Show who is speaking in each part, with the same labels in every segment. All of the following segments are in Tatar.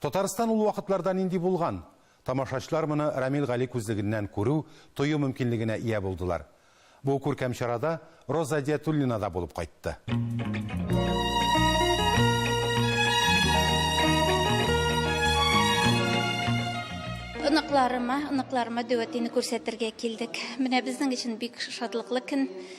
Speaker 1: Татарстан ул вакытларда нинди булган? Тамашачлар моны Рамил Гали күзлегеннән күрү, тою мөмкинлегенә ия булдылар. Бу күркәм чарада Роза Әдиятуллина да булып кайтты.
Speaker 2: Оныкларыма, оныкларыма Дәүәтине күрсәтергә килдек. Менә безнең өчен бик шатлыклы көн.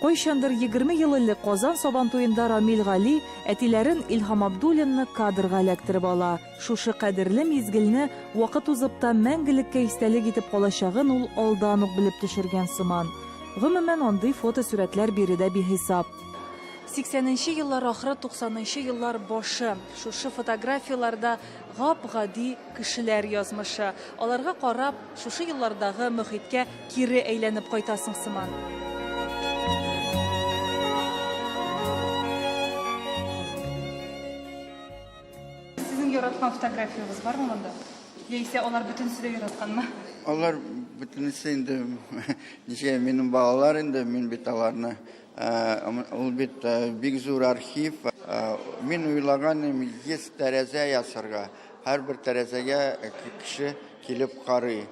Speaker 3: Кайчандыр егерме ел элек Казан Сабантуенда Рамил Гали әтиләрен Илһам Абдуллинны кадрга эләктереп ала. Шушы кадерле мизгелне вакыт узып та мәңгелеккә истәлек итеп калачагын ул алдан ук белеп төшергән сыман. Гомумән, андый фотосурәтләр биредә бихисап. Сиксәненче еллар ахыры, туксанынчы еллар башы. Шушы фотографияләрдә гап-гади кешеләр язмышы. Аларга карап. Шушы еллардагы мохиткә кире әйләнеп кайтасың сыман.
Speaker 4: яраткан фотографиягез бармы монда? Яисә алар бөтенесе дә яратканмы? Алар
Speaker 5: бөтенесе инде ничә минем балалар инде, мин бит аларны Ул бит бик зур архив. Мин уйлаган идем, 100 тәрәзә ясарга. Һәрбер тәрәзәгә кеше килеп карый.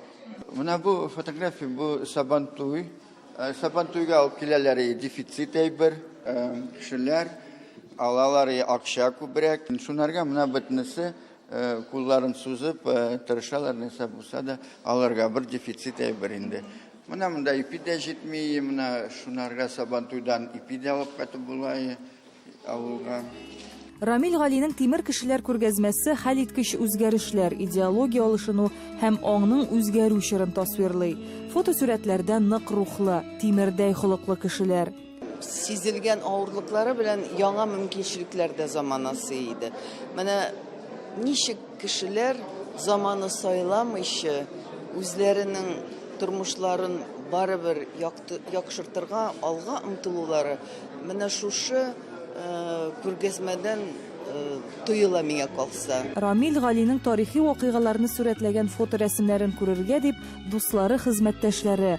Speaker 5: Менә бу фотография, бу Сабантуй. Сабантуйга алып киләләр дефицит әйбер. Кешеләр алалар акча күбрәк. Шунарга менә бөтенесе кулларын сузып тырышалар, нәрсә булса да алырга. Бер дефицит әйбер инде. Менә монда ипи дә җитми, менә шунарга Сабантуйдан ипи дә алып кайтып була авылга.
Speaker 3: Рамил Галинең Тимер кешеләр күргәзмәсе хәлиткеч үзгәрешләр, идеология алышыну һәм аңның үзгәрү чорын тасвирлый. Фотосурәтләрдә нык рухлы, тимердәй холыклы кешеләр. сизелгән
Speaker 6: авырлыклары белән яңа мөмкинчелекләр дә замана сый иде. Менә ничек кешеләр заманы сайламыйча үзләренең тормышларын барыбер яхшыртырга алга омтылулары менә шушы күргәзмәдән тоела миңа калса. Рамил Галинең
Speaker 3: тарихи вакыйгаларны сурәтләгән фоторәсемнәрен күрергә дип, дуслары, хезмәттәшләре,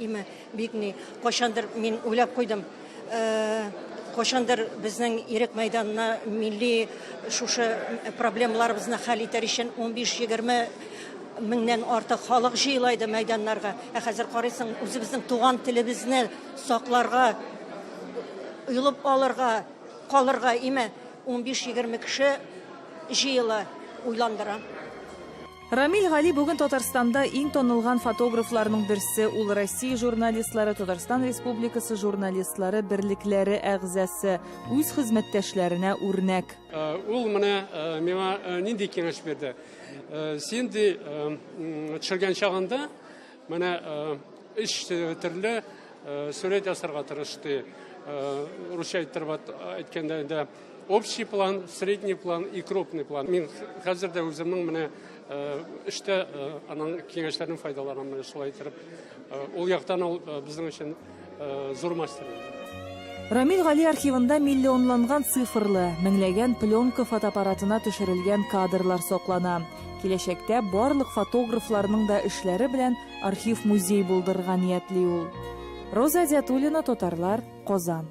Speaker 7: Имә бик ни, кайчандыр мин уйлап куйдым. Кайчандыр безнең ирек мәйданына милли шушы проблемаларыбызны хәл итәр өчен 15-20 меңнән артык халык җыела иде мәйданнарга. Ә хәзер карыйсың, үзебезнең туган телебезне сакларга, оелып алырга, калырга имә 15-20 кеше җыела, уйландыра.
Speaker 3: Рамил Гали бүген Татарстанда иң танылган фотографларның берсе, ул Россия журналистлары, Татарстан Республикасы журналистлары берлекләре әгъзасы, үз хезмәттәшләренә үрнәк. Э, ул менә э,
Speaker 8: миңа э, нинди киңәш бирде? Син ди төшергән чагында Менә өч төрле сурет ясарга тырышты. Русча әйттереп әйткәндә инде общий план, средний план и крупный план. Мин хәзер дә үземнең менә эштә аның киңәшләрен файдаланам, шулай итеп. Ул яктан ул безнең өчен Э, зур мастер. Рамил
Speaker 3: Гали архивында миллионланган цифрлы, меңләгән пленка фотоаппаратына төшерелгән кадрлар соклана. Киләчәктә барлык фотографларның да эшләре белән архив музей булдырырга ниятли ул. Роза Зятулина, татарлар, Казан.